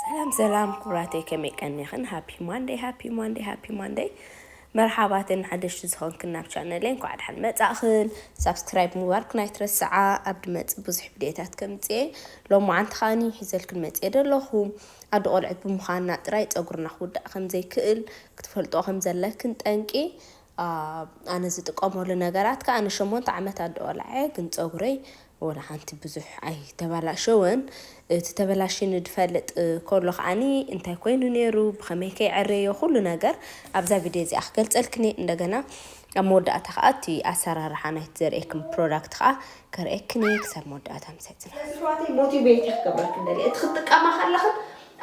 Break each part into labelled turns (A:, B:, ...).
A: ሰላም ሰላም ኩቡራተይ ከመይ ቀኒክን ሃፒ ማንደይ ሃፒ ማንደይ ሃፒ ማንደይ መርሓባ ተን ሓደሽቲ ዝኾንክን ናብ ቻነለይ እንኳዕ ደሓን መጻእኽን ሳብስክራይብ ምባርክን ኣይትረስዓ ኣብ ድመጽእ ብዙሕ ቪድዮታት ከምጽኤ ሎም መዓንቲ ከዓኒ ሒዘልክን መጽኤ ደለኹ ኣዲ ቆልዕት ብምዃንና ጥራይ ጸጉርና ክውዳእ ከምዘይክእል ክትፈልጦ ከምዘለክን ጠንቂ ኣነ ዝጥቀመሉ ነገራት ከኣ ንሸሞንተ ዓመት ኣደኦላዔ ግን ጸጉረይ ወላ ሓንቲ ብዙሕ ኣይተበላሸወን እቲ ተበላሽኒ ድፈልጥ ኮሎ ከኣኒ እንታይ ኮይኑ ነይሩ ብኸመይ ከይዐረዮ ኩሉ ነገር ኣብዛ ቪድዮ እዚኣ ክገልጸልክኒ እንደገና ኣብ መወዳእታ ከዓ እቲ ኣሰራርሓ ናይቲ ዘርእየክም ፕሮዳክት ከዓ ከርእየክኒ ክሳብ መወዳእታ ምሳይ ፅና ስለዚ ኣሕዋተይ ሞቲቬት እየ ክገብረክን ደልየ እቲ ክትጥቀማ ከለኽን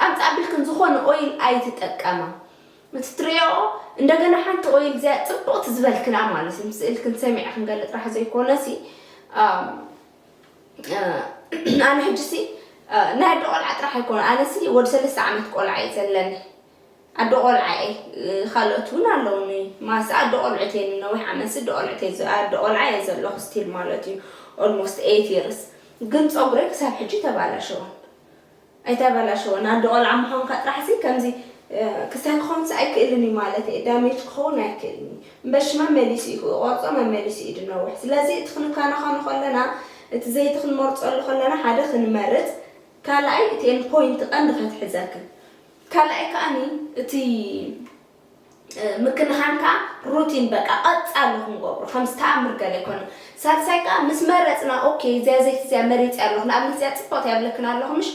A: ኣምፃ ኣቢልክን ዝኾነ ኦይል ኣይትጠቀማ እቲ ትሪኦኦ እንደገና ሓንቲ ኦይል እዚኣ ፅብቕቲ ዝበልክና ማለት እዩ ምስ እልክን ሰሚዐ ክንገለ ጥራሕ ዘይኮነ ሲ ኣነ ሕጂ ሲ ናይ ኣደ ቆልዓ ጥራሕ ኣይኮነ ኣነ ሲ ወዲ ሰለስተ ዓመት ቆልዓ እዩ ዘለኒ ኣደ ቆልዓ እየ ካልኦት እውን ኣለውኒ ማስ ኣደ ቆልዑት እየ ንነዊሕ ዓመት ኣደ ቆልዑት ኣደ ቆልዓ እየ ዘለኹ ስቲል ማለት እዩ ኦልሞስት ኤት ይርስ ግን ፀጉረይ ክሳብ ሕጂ ተባላሸወን ኣይተበላሸወን ኣዶ ቆልዓ ምዃንካ ጥራሕሲ ከምዚ ክሳይ ክኾንሲ ኣይክእልን እዩ ማለት እየ ዳሜጅ ክኸውን ኣይክእልን እዩ እምበሺ መመሊሱ እዩ ክቆርጾ መመሊሱ እዩ ድነውሕ ስለዚ እቲ ክንካናኸኖ ከለና እቲ ዘይቲ ክንመርጸሉ ከለና ሓደ ክንመርጽ ካልኣይ እቲ ኤንፖይንት ቀንዲ ከትሕዘክን ካልኣይ ከኣኒ እቲ ምክንኻን ከኣ ሩቲን በቃ ቀጻሊ ክንገብሮ ከምዚ ተኣምር ገለ ኣይኮነን። ሳልሳይ ከኣ ምስ መረጽና ኦኬ እዚኣ ዘይቲ እዚኣ መሪጸያ ኣለኹ ንኣብነት እዚኣ ጽብቕቲ እያ እብለክን ኣለኹ ምሽ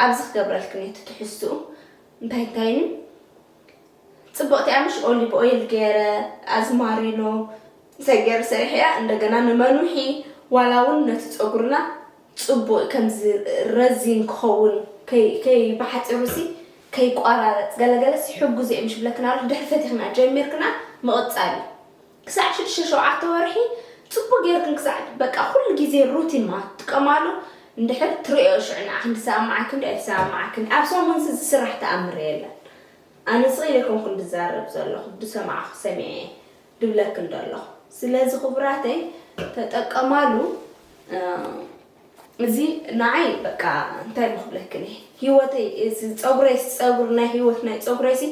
A: ኣብዚ ክገብረልክን እየ እቲ ትሕዝትኡ እንታይ እንታይን እዩ ጽብቕቲ እያ ምሽ ኦሊቭ ኦይል ገይረ ኣዝማሪኖ እንታይ ገይረ ሰሪሐያ እንደገና ንመኑሒ ዋላ እውን ነቲ ጸጉርና ጽቡቅ ከምዚ ረዚን ክኸውን ከይ ከይ ብሓጺሩሲ ከይቋራረጽ ገለ ገለሲ ሕጉዝ እየ ምሽ ብለክን ኣለኹ ድሕሪ ፈቲኽና ጀሚርክና ምቕጻል እዩ ክሳዕ ሽዱሽተ ሸውዓተ ወርሒ ጽቡቅ ጌርክን ክሳዕ በቃ ኩሉ ግዜ ሩቲን ማለት ትጥቀማሉ እንድሕር ትርእዮ ሽዑ ንዓ ክንዲ ሰማማዓኪ እንዶ ኣይሰማማዓክን ኣብ ሰሙንሲ ዝስራሕ ተኣምር የለን ኣነ ስቅ ኢለ ኣይኮንኩን ድዛረብ ዘለኹ ድሰማዕኹ ሰሚዐ እየ ድብለክን ዶ ኣለኹ ስለዚ ክቡራተይ ተጠቀማሉ እዚ ንዓይ በቃ እንታይ እሞ ክብለክን እየ ሂወተይ እዚ ፀጉረይ ፀጉሪ ናይ ሂወት ናይ ፀጉረይሲ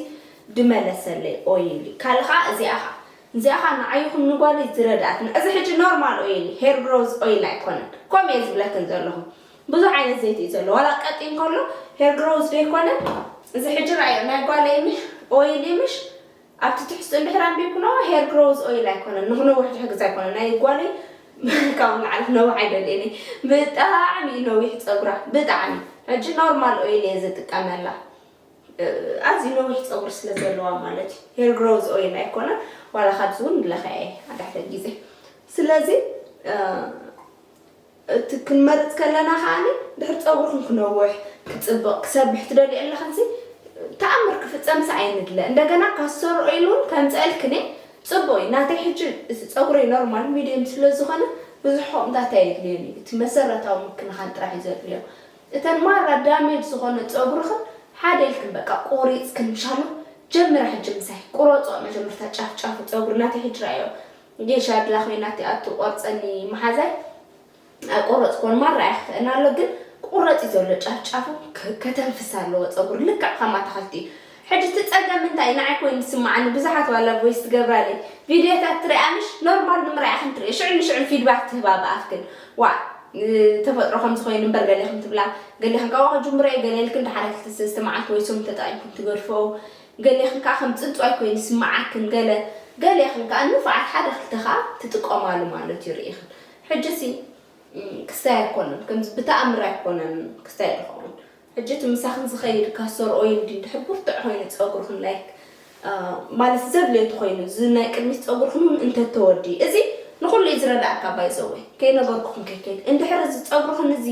A: ድመለሰለይ ኦይል እዩ ካልእ ከዓ እዚኣ ከዓ እዚኣ ከዓ ንዓይ ይኹን ንጓለይ ዝረድኣትና እዚ ሕጂ ኖርማል ኦይል እዩ ሄር ግሮዝ ኦይል ኣይኮነን ከምኡ እየ ዝብለክን ዘለኹ ብዙሕ ዓይነት ዘይቲ እዩ ዘሎ ዋላ ቀጢን ከሎ ሄር ግሮዝ ዘይኮነ እዚ ሕጂ ረኣዮ ናይ ጓለይ ምሽ ኦይል እዩ ምሽ ኣብቲ ትሕዝቶ እንድሕር ኣንቢብክኖ ሄር ግሮውዝ ኦይል ኣይኮነን ንክነውሕ ዝሕግዝ ኣይኮነን ናይ ጓለይ ካብኡ ንላዕሊ ክነውሕ ኣይደልየን እየ ብጣዕሚ እዩ ነዊሕ ፀጉራ ብጣዕሚ ሕጂ ኖርማል ኦይል እየ ዝጥቀመላ ኣዝዩ ነዊሕ ፀጉሪ ስለ ዘለዋ ማለት እዩ ሄር ግሮውዝ ኦይል ኣይኮነን ዋላ ካብዚ እውን ንለኸዐ ኣዳሕተ ግዜ ስለዚ እቲ ክንመርጽ ከለና ከኣ ድሕሪ ጸጉርክን ክነውሕ ክጽብቕ ክሰብሕ ትደልዮ ኣለኽንሲ ተኣምር ክፍጸምሲ ኣይንድለ እንደገና ካስተር ኦይል ውን ከምጽኣልክን እየ ጽቡቕ እዩ ናተይ ሕጂ እቲ ጸጉረይ ኖርማል ሚድየም ስለ ዝኾነ ብዙሕ ሆቕምታት ኣየድልዮን እዩ እቲ መሰረታዊ ምክንኻን ጥራሕ እዩ ዘድልዮ እተን ማራ ዳሜጅ ዝኾነ ጸጉርኽን ሓደ ኢልክን በቃ ቆሪጽክን ሻሎ ጀምራ ሕጂ ምሳይ ቁረጽኦ መጀመርታ ጫፍ ጫፉ ጸጉሪ ናተይ ሕጂ ረኣዮ ጌሻ ድላ ኮይና ትኣቱ ቆርጸኒ ማሓዛይ ኣይቆረጽክዎን ማራ ኣይክፈእን ኣሎ ግን ክቁረጽ እዩ ዘሎ ጫፍ ጫፉ ከተንፍስ ኣለዎ ጸጉሪ ልክዕ ከም ኣታክልቲ እዩ ሕጂ እቲ ጸገም እንታይ እዩ ንዓይ ኮይኑ ዝስምዓኒ ብዙሓት ዋላ ቮይስ ትገብራለይ ቪድዮታት ትሪኣ ምሽ ኖርማል ንምርኣይ ኢኽን ትሪኦ ሽዑ ንሽዑ ፊድባክ ትህባ ብኣፍክን ዋእ ተፈጥሮ ከምዚ ኮይኑ እምበር ገሌኹም ትብላ ገሌኹም ካብኡ ክጅምሮ እዩ ገሌልክን ድሓረ ክልተ ሰለስተ መዓልቲ ወይ ሶም ተጠቒምኩም ትገድፍኦ ገሌኽን ከኣ ከም ጽንጽዋይ ኮይኑ ይስመዓክን ገለ ገሌኽን ከኣ ንፉዓት ሓደ ክልተ ከኣ ትጥቀማሉ ማለት እዩ ርኢኽን ሕጂሲ ክስታይ ኣይኮነን ከምዚ ብተኣምር ኣይኮነን ክስታይ ድኸውን ሕጂ እቲ ምሳኽን ዝኸይድ ካስቶር ኦይል ድዩ ድሕር ብርቱዕ ኮይኑ ጸጉርኽን ላይክ ማለት ዘድልዮ እንተኾይኑ እዚ ናይ ቅድሚት ጸጉርኽን እውን እንተተወዲ እዚ ንኹሉ እዩ ዝረዳእካ ባይዘወይ ከይነገርኩኽን ከይከይድ እንድሕር እዚ ጸጉርኽን እዚ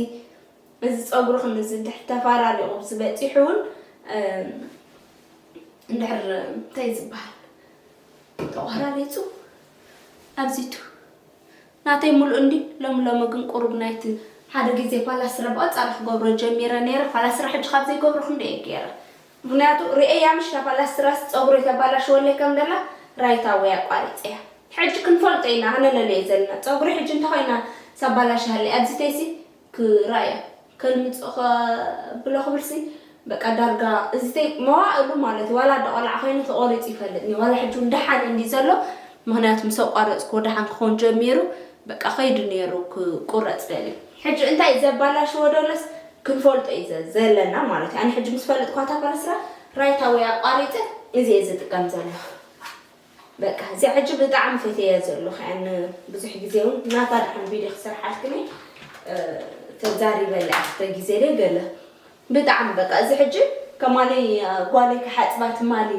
A: እዚ ጸጉርኺ ምስ ዝድሕ ተፋራሪ ቁብሲ በጺሑ ውን እንድሕር እንታይ ዝብሃል ተቆራሪጹ ኣብዚቱ ናተይ ሙሉእ እንድዩ ሎሚ ሎሚ ግን ቁሩብ ናይቲ ሓደ ግዜ ፋላ ስረ ብቐጻሊ ክገብሮ ጀሚረ ነይረ ፋላ ስረ ሕጂ ካብ ዘይገብሮ ክንደይ ገይረ ምክንያቱ ርእየያ ምሽ ፋላ ስራስ ጸጉረይ ተባላሽወለይ ከም ደላ ራይታ ወይ ኣቋሪጸያ ሕጂ ክንፈልጦ ኢና ሃነለለዮ ዘለና ጸጉረይ ሕጂ እንተ ኮይና ሳባላሽሃለይ ኣብዚተይሲ ክራያ ከልምጾ ከብሎ ክብል ሲ በቃ ዳርጋ እዚ መዋእሉ ማለት እዩ ዋላ ደቆልዓ ኮይኑ ተቆሪጹ ይፈልጥ ኒ ዋላ ሕጂ ደሓን እንዲ ዘሎ ምክንያቱ ምስ ኣቋረጽኩዎ ደሓን ክኾን ጀሚሩ በቃ ከይዱ ነይሩ ክቁረጽ ደልዩ ሕጂ እንታይ ዘባላሽዎ ደሎስ ክንፈልጦ እዩ ዘለና ማለት እዩ ኣነ ሕጂ ምስ ፈልጥኳ ታፈርስራ ራይታ ወይ ኣቋሪጸ እዚ እየ ዝጥቀም ዘለኹ በቃ እዚኣ ሕጂ ብጣዕሚ ፈትየያ ዘለኹ እያ ን ብዙሕ ግዜ እውን ናታ ድሓን ቪድዮ ክሰርሓልክን እየ ተዛሪበላ እየ ክልተ ግዜ ደይ ገለ ብጣዕሚ በቃ እዚ ሕጂ ከማለይ ጓለይ ክሓፅባ ትማሊ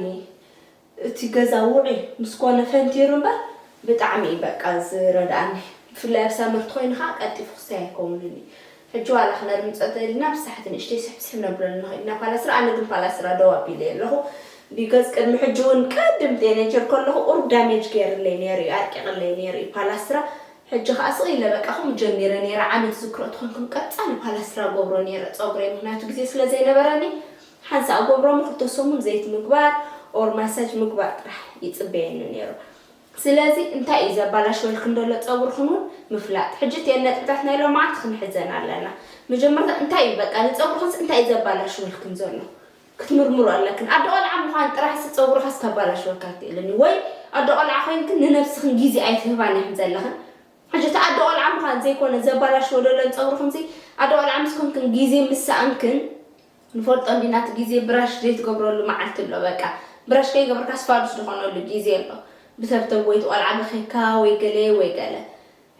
A: እቲ ገዛ ውዑይ ምስ ኮነ ፈንቲሩ እምበር ብጣዕሚ እዩ በቃ ዝረድኣኒ ብፍላይ ኣብ ሳመርቲ ኮይኑ ከዓ ቀልጢፉ ክሳይ ኣይከውንን እዩ ሕጂ ዋላ ክነድምጾ እንተደሊና ብሳሕቲ ንእሽተይ ስሕብስሕብ ነብለሉ ንኽእል ኢና ፓላስራ ኣነ ግን ፓላስራ ደው ኣቢለዮ ኣለኹ because ቅድሚ ሕጂ ውን ቀድም ቴነጀር ከለኹ ቁሩብ ዳሜጅ ጌርለይ ኔሩ ዩ ኣርቂቅለይ ኔሩ ዩ ፓላስትራ ሕጂ ከኣ ስቅ ኢለ በቃ ከምኡ ጀሚረ ኔረ ዓመት ዝክሮ ተኾንኩም ቀጻሊ ፓላስትራ ገብሮ ኔረ ጸጉረይ ምኽንያቱ ግዜ ስለ ዘይነበረኒ ሓንሳእ ገብሮ እሞ ክልተ ሰሙን ዘይት ምግባር or ማሳጅ ምግባር ጥራሕ ይጽበየኒ ኔሩ ስለዚ እንታይ እዩ ዘባላሽወልክን ደሎ ጸጉርክን ውን ምፍላጥ። ሕጂ እቲኤን ነጥብታት ናይ ሎማዓንቲ ክንሕዘን ኣለና። መጀመርታ እንታይ እዩ በቃ ንጸጉርክንስ እንታይ እዩ ዘባላሽወልክን ዘሎ ክትምርምሩ ኣለክን። ኣደ ቆልዓ ምዃን ጥራሕሲ ጸጉርካስ ከባላሽወካ ኣይክእልን እዩ። ወይ ኣደ ቆልዓ ኮይንክን ንነብስክን ግዜ ኣይትህባን ኢክን ዘለክን። ሕጂ እቲ ኣደ ቆልዓ ምዃን ዘይኮነ ዘባላሽዎ ደሎን ጸጉርክንሲ ኣደ ቆልዓ ምስ ኮንክን ግዜ ምስ ሰኣንክን ንፈልጦ እንዲና እቲ ግዜ ብራሽ ዘይትገብረሉ መዓልቲ ኣሎ በቃ ብራሽ ከይገበርካስ ፋዱስ ዝኮነሉ ግዜ ኣሎ ብተብተብ ወይ እቲ ቆልዓ በኪካ ወይ ገለ ወይ ገለ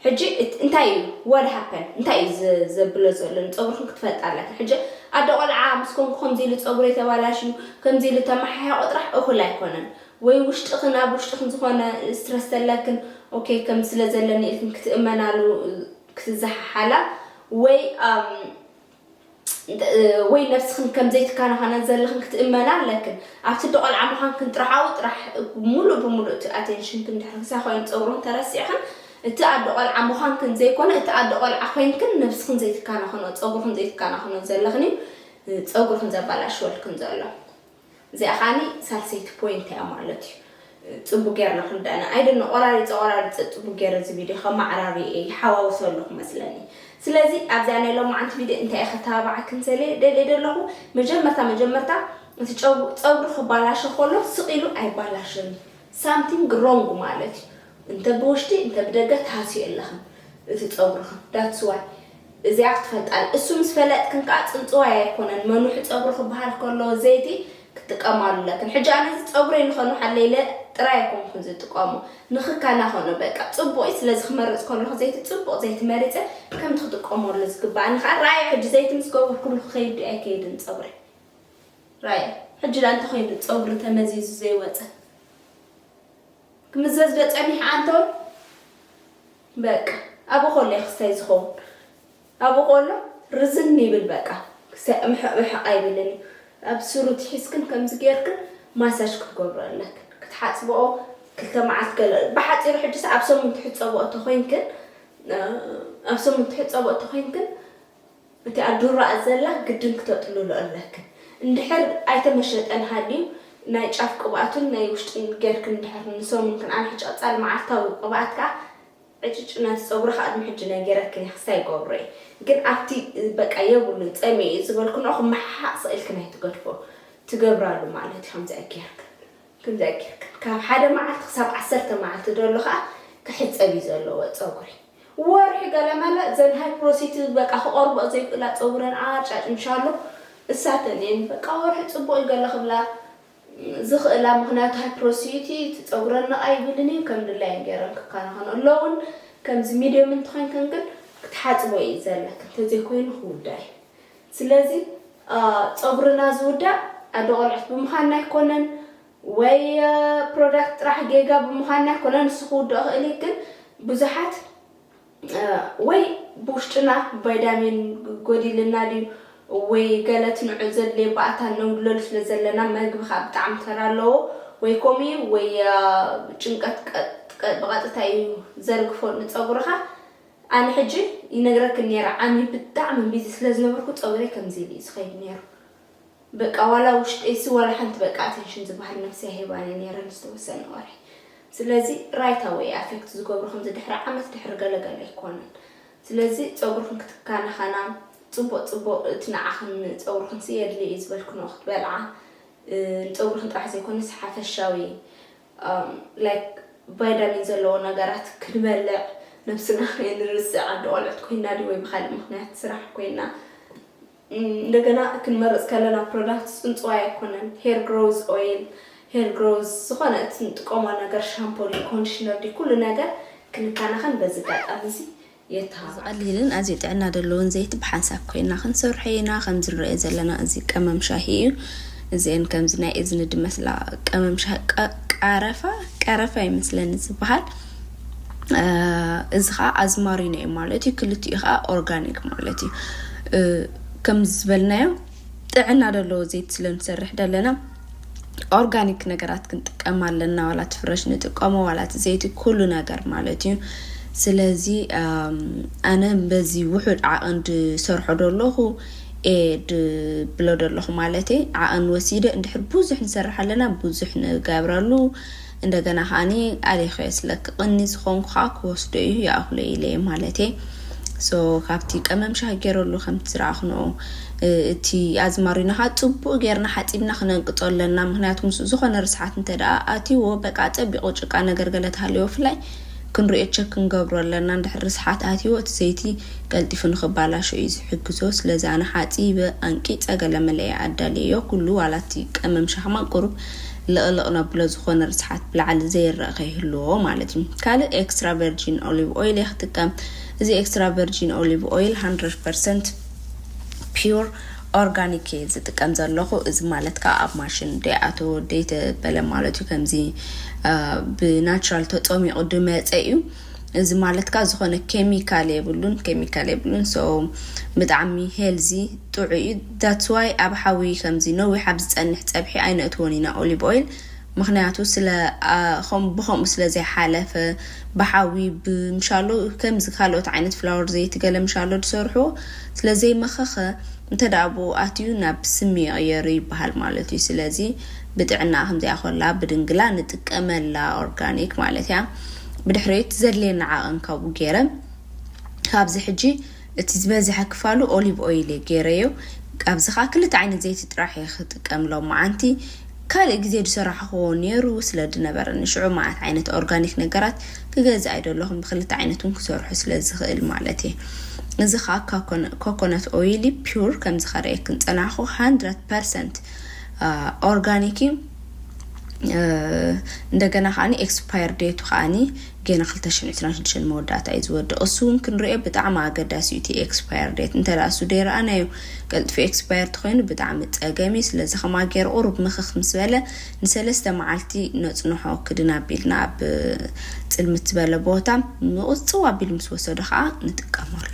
A: ሕጂ እንታይ እዩ what happened እንታይ እዩ ዘብሎ ዘሎ ንጸጉርክን ክትፈልጣ ኣለክን ሕጂ ኣደ ቆልዓ ምስ ኮንኩ ከምዚ ኢሉ ጸጉረይ ተባላሽዩ ከምዚ ኢሉ ተመሓያቆ ጥራሕ እኩል ኣይኮነን ወይ ውሽጥክን ኣብ ውሽጥክን ዝኮነ ስትረስ ተለክን ኦኬ ከም ስለ ዘለኒ ኢልክን ክትእመናሉ ክትዘሓሓላ ወይ ወይ ነብስኽን ከም ዘይትከናኸነን ዘለኽን ክትእመና ኣለክን። ኣብቲ እንዶ ቆልዓ ምዃንክን ጥራሓኡ ጥራሕ ሙሉእ ብሙሉእ እቲ ኣቴንሽንክን ድሕሪ ክሳብ ኮይኑ ጸጉርኽን ተረሲዕኽን እቲ ኣዶ ቆልዓ ምዃንክን ዘይኮነ እቲ ኣዶ ቆልዓ ኮይንክን ነብስኽን ዘይትከናኸኖ ጸጉርኽን ዘይትከናኸኖ ዘለኽን እዩ ጸጉርኽን ዘባላሽወልክን ዘሎ። እዚኣ ከኣኒ ሳልሰይቲ ፖይንት እያ ማለት እዩ ጽቡቅ ጌርና ክንርዳእና ኣይ ዶኖ ቆራሪጸ ቆራሪጸ ጽቡቅ ጌረ እዚ ቪድዮ ከማዕራሪ እየ ይሓዋውሶ ኣለኹ መስለኒ ስለዚ ኣብዚኣ ናይ ሎማዓንቲ ቪድዮ እንታይ እየ ከተባባዓክን ዘልየ ደልየ ደለኹ መጀመርታ መጀመርታ እቲ ጨው ጸጉሪ ክባላሾ ከሎ ስቅ ኢሉ ኣይባላሾን እዩ ሳምቲንግ ሮንግ ማለት እዩ እንተ ብውሽጢ እንተ ብደገ ትሃስዩ ኣለኽን እቲ ጸጉርኽን ዳትስ ዋይ እዚኣ ክትፈልጣል እሱ ምስ ፈለጥክን ከኣ ጽንጽዋይ ኣይኮነን መንውሒ ጸጉሪ ክበሃል ከሎ ዘይቲ ክትጥቀማሉ ኣለክን ሕጂ ኣነ እዚ ጸጉረይ ንኸንውሓለይ ኢለ ጥራይ ኣይኮንኩን ዝጥቀሞ ንኽከናኸኖ በቃ ጽቡቕ እዩ ስለዚ ክመርጽ ከለኹ ዘይቲ ጽቡቕ ዘይቲ መሪጸ ከምቲ ክጥቀመሉ ዝግበኣኒ ከኣ ራኣዩ ሕጂ ዘይቲ ምስ ገበርኩሉ ክኸይድ ድዩ ኣይከይድን ጸጉረይ ራኣዩ ሕጂ ደኣ እንተ ኮይኑ ጸጉሪ ተመዚዙ ዘይወጸ ክምዘዝ ዶ ጸኒሐ ኣንቶን በቃ ኣብኡ ከሎ እዩ ክስታይ ዝከውን ኣብኡ ከሎ ርዝን ይብል በቃ ክስታይ ምሕቅ ምሕቅ ኣይብልን እዩ ኣብ ስሩ ትሒዝክን ከምዚ ጌርክን ማሳጅ ክትገብሮ ኣለክን ክትሓጽብኦ ክልተ መዓልቲ ገለ ብሓጺሩ ሕጅስ ኣብ ሰሙን ትሕጸብኦ ተኮይንክን ኣብ ሰሙን ትሕጸብኦ ተኮይንክን እቲኣ ዱራኣ ዘላ ግድን ክተጥልሎ ኣለክን እንድሕር ኣይተመሸጠን ሃልዩ ናይ ጫፍ ቅብኣቱን ናይ ውሽጥን ገርክን እንድሕር ንሰሙን ክንኣ ሕጫጻል መዓልታዊ ቅብኣት ከኣ ዕጭጭ ናቲ ጸጉሪ ከኣ ቅድሚ ሕጂ ናይ ገረክን እየ ክሳይ ገብሮ እየ ግን ኣብቲ በቃ የብሉን ጸሚኡ እዩ ዝበልክንኦ ክመሓሓእ ስቅ ኢልክን ኣይትገድፎ ትገብራሉ ማለት እዩ ከምዚኣ ገርክን ክምዚ ጌርካ ካብ ሓደ መዓልቲ ክሳብ ዓሰርተ መዓልቲ ደሎ ከኣ ክሕጸብ እዩ ዘለዎ ጸጉሪ ወርሒ ገለመለ እዘን ሃይፕሮሲቲ በቃ ክቆርብኦ ዘይክእላ ጸጉረን ኣርጫጭ ምሻሎ እሳተን እየን በቃ ወርሒ ጽቡቅ እዩ ገለ ክብላ ዝኽእላ ምክንያቱ ሃይፕሮሲቲ እቲ ጸጉረን ነቃ ይብልን እዩ ከም ድላየን ጌረን ክከናኸኖ ኣለውን ከምዚ ሚድዮም እንተኮይንክን ግን ክትሓጽቦ እዩ ዘለክን ተዘይኮይኑ ክውዳ እዩ ስለዚ ጸጉርና ዝውዳእ ኣደ ቆልዑት ብምዃንና ኣይኮነን ወይ ፕሮዳክት ጥራሕ ጌጋ ብምዃንና ኣይኮነን ንሱ ክውድኦ ክእል እዩ ግን ብዙሓት ወይ ብውሽጥና ቫይዳሚን ጎዲልና ድዩ ወይ ገለ ትንዑ ዘድልየ ባእታ ነጉድለሉ ስለ ዘለና መግቢ ከዓ ብጣዕሚ ተራ ኣለዎ ወይ ከምኡ እዩ ወይ ጭንቀት ብቐጥታ እዩ ዘርግፎ ንጸጉርኻ ኣነ ሕጂ ይነግረክን ኔረ ዓሚ ብጣዕሚ ቢዚ ስለ ዝነበርኩ ጸጉረይ ከምዚ ኢሉ እዩ ዝኸይድ ኔሩ በቃ ዋላ ውሽጠይሲ ዋላ ሓንቲ በቃ ኣተንሽን ዝበሃል ነብሰይ ኣይህባን'የ ኔረ ንዝተወሰነ ወርሒ ስለዚ ራይት ኣወይ እዩ ኣፌክት ዝገብሮ ከምዚ ድሕሪ ዓመት ድሕሪ ገለ ገለ ኣይኮነን ስለዚ ጸጉርኽን ክትካናኸና ጽቡቅ ጽቡቅ እቲ ንዓኽን ንጸጉርኽንሲ የድልዮ እዩ ዝበልክንኦ ክትበልዓ ንጸጉርኽን ጥራሕ ዘይኮነስ ሓፈሻዊ like ቫይዳሚን ዘለዎ ነገራት ክንበልዕ ነብስና ከይንርስዕ ኣደ ቆልዑት ኮይና ድዩ ወይ ብካልእ ምክንያት ስራሕ ኮይና እንደገና ክንመርፅ ከለና ፕሮዳክት ፅንፅዋይ ኣይኮነን ሄር ግሮዝ ኦይል ሄር ግሮዝ ዝኾነ እቲ ንጥቀሞ ነገር ሻምፖ ዲ ኮንዲሽነር ዲ ኩሉ ነገር ክንከናኸን በዚ ኣጋጣሚ እዚ የተሃባብር። እዚ ቀሊልን ኣዝዩ ጥዕና ዘለዎን ዘይቲ ብሓንሳብ ኮይና ክንሰርሖ ኢና። ከምዚ ንርእዮ ዘለና እዚ ቀመም ሻሂ እዩ። እዚኤን ከምዚ ናይ እዝኒ ድመስላ ቀመም ሻሂ ቃረፋ ቀረፋ ይመስለኒ ዝበሃል እዚ ከዓ ኣዝማሪኖ እዩ ማለት እዩ። ክልቲኡ ከዓ ኦርጋኒክ ማለት እዩ ከምዚ ዝበልናዮ ጥዕና ደለዎ ዘይት ስለ ንሰርሕ ደለና ኦርጋኒክ ነገራት ክንጥቀም ኣለና ዋላ ትፍረሽ ንጥቀሞ ዋላ ዘይት ኩሉ ነገር ማለት እዩ ስለዚ ኣነ በዚ ውሑድ ዓቐን ድሰርሖ ደለኹ እየ ድብሎ ደለኹ ማለት ዓቐን ወሲደ እንድሕር ብዙሕ ንሰርሕ ኣለና ብዙሕ ንገብረሉ እንደገና ከኣኒ ኣሊኸዮ ስለ ክቕኒ ዝኾንኩ ከኣ ክወስዶ እዩ ይኣኽሎ ኢለ እየ ማለተይ so ካብቲ ቀመም ሻሂ ጌረሉ ከምቲ ዝረኣኽንኦ እቲ ኣዝማሪኖ ከኣ ጽቡቕ ጌርና ሓጺብና ክነንቅጾ ኣለና ምክንያቱ ምስ ዝኾነ ርስሓት እንተ ደኣ ኣትይዎ በቃ ኣጸቢቑ ጭቃ ነገር ገለ ተሃልዮ ብፍላይ ክንሪኦ ቸክ ክንገብሮ ኣለና እንድሕር ርስሓት ኣትይዎ እቲ ዘይቲ ቀልጢፉ ንኽባላሾ እዩ ዝሕግዞ ስለዚ ኣነ ሓጺበ ኣንቂጸ ገለ መለ እየ ኣዳልየዮ ኩሉ ዋላ እቲ ቀመም ሻሂ ማን ቁሩብ ልቕልቕ ነብሎ ዝኾነ ርስሓት ብላዕሊ ዘይረኣ ከይህልዎ ማለት እዩ። ካልእ ኤክስትራ ቨርጂን ኦሊቭ ኦይል እየ ክጥቀም። እዚ ኤክስትራ ቨርጂን ኦሊቭ ኦይል ሃንድረድ ፐርሰንት ፒዩር ኦርጋኒክ እየ ዝጥቀም ዘለኹ። እዚ ማለት ከዓ ኣብ ማሽን ደይኣተወ ደይተበለ ማለት እዩ። ከምዚ ብናቹራል ተፀሚቑ ድመፀ እዩ። እዚ ማለት ካኣ ዝኮነ ኬሚካል የብሉን ኬሚካል የብሉን so ብጣዕሚ ሄልዚ ጥዑይ እዩ that's why ኣብ ሓዊ ከምዚ ነዊሕ ኣብ ዝጸንሕ ጸብሒ ኣይነእትዎን ኢና ኦሊብ ኦይል ምክንያቱ ስለ ከምኡ ብከምኡ ስለ ዘይሓለፈ ብሓዊ ብምሻሎ ከምዚ ካልኦት ዓይነት ፍላወር ዘይቲ ገለ ምሻሎ ዝሰርሕዎ ስለ ዘይመከከ እንተ ብኡ ኣትዩ ናብ ስሚ ይቅየር ይበሃል ማለት እዩ ስለዚ ብጥዕና ከምዚኣ ኮላ ብድንግላ ንጥቀመላ ኦርጋኒክ ማለት እያ ብድሕሪት ዘድልየና ዓቕን ካብኡ ገይረ ካብዚ ሕጂ እቲ ዝበዝሐ ክፋሉ ኦሊቭ ኦይል እየ ገይረዮ ኣብዚ ከዓ ክልተ ዓይነት ዘይቲ ጥራሕ እየ ክጥቀም ሎመዓንቲ ካልእ ግዜ ዝሰራሕኹዎ ነይሩ ስለ ዝነበረኒ ሽዑ መዓት ዓይነት ኦርጋኒክ ነገራት ክገዝእ ኣይደለኹን ብክልተ ዓይነት እውን ክሰርሑ ስለ ዝኽእል ማለት እየ እዚ ከዓ ኮኮነት ኦይል ፒውር ከምዚ ከርእየክን ፀናሕኹ 100 ኦርጋኒክ እዩ እንደገና ከዓ ኤክስፓየር ዴቱ ከዓ ገና 226 መወዳእታ እዩ ዝወድእ እሱ እውን ክንሪኦ ብጣዕሚ ኣገዳሲ እዩ እቲ ኤክስፓየር ዴት እንተ እሱ ደይረኣናዮ ቀልጥፊ ኤክስፓየር ተኮይኑ ብጣዕሚ ፀገም እዩ ስለዚ ከማ ገይሩ ቁሩብ ምክክ ምስ በለ ንሰለስተ መዓልቲ ነፅንሖ ክድን ኣቢልና ኣብ ፅልምት ዝበለ ቦታ ምቁፅው ኣቢሉ ምስ ወሰዶ ከዓ ንጥቀመሉ